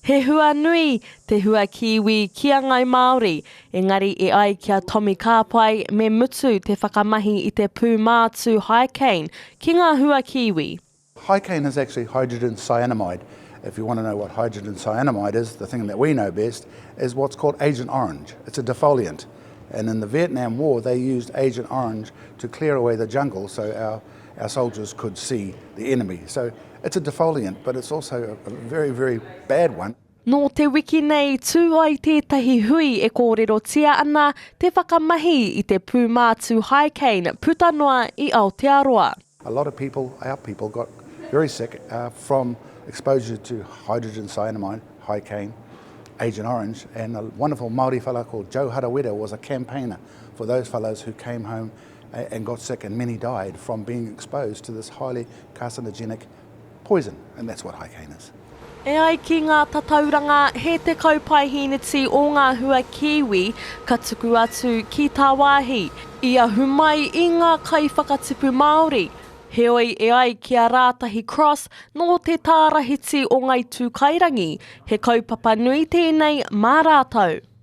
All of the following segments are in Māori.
He hua nui te hua Kiwi ki a Ngai Māori, engari e ai ki a Tomi Kāpai me mutu te whakamahi i te pūmātū Hycane ki ngā hua Kiwi. Hycane is actually hydrogen cyanamide, if you want to know what hydrogen cyanamide is, the thing that we know best is what's called Agent Orange, it's a defoliant and in the Vietnam war they used Agent Orange to clear away the jungle so our soldiers could see the enemy. It's a defoliant, but it's also a very, very bad one. Nō te wiki nei, tū ai tētahi hui e kōrerotia ana te whakamahi i te pūmātū haikane puta noa i Aotearoa. A lot of people, our people, got very sick from exposure to hydrogen cyanamide, haikane, Agent Orange, and a wonderful Māori fellow called Joe Harawira was a campaigner for those fellows who came home and got sick and many died from being exposed to this highly carcinogenic poison and that's what High Cane is. E ai ki ngā tatauranga, he tekau paehīniti ō ngā hua kīwi ka tuku atu ki tāwāhi, i ahu mai i ngā kaiwhakatipu Māori. Heoi, e ai ki a Rātahi Cross, nō te tārahiti o Ngai Tūkairangi, he kaupapa nui tēnei mā rātou.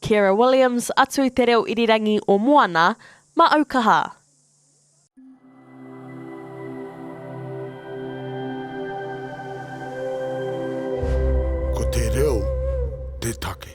Ciara Williams atu i te reo irirangi o Moana, ma au kaha! Ko te reo te take.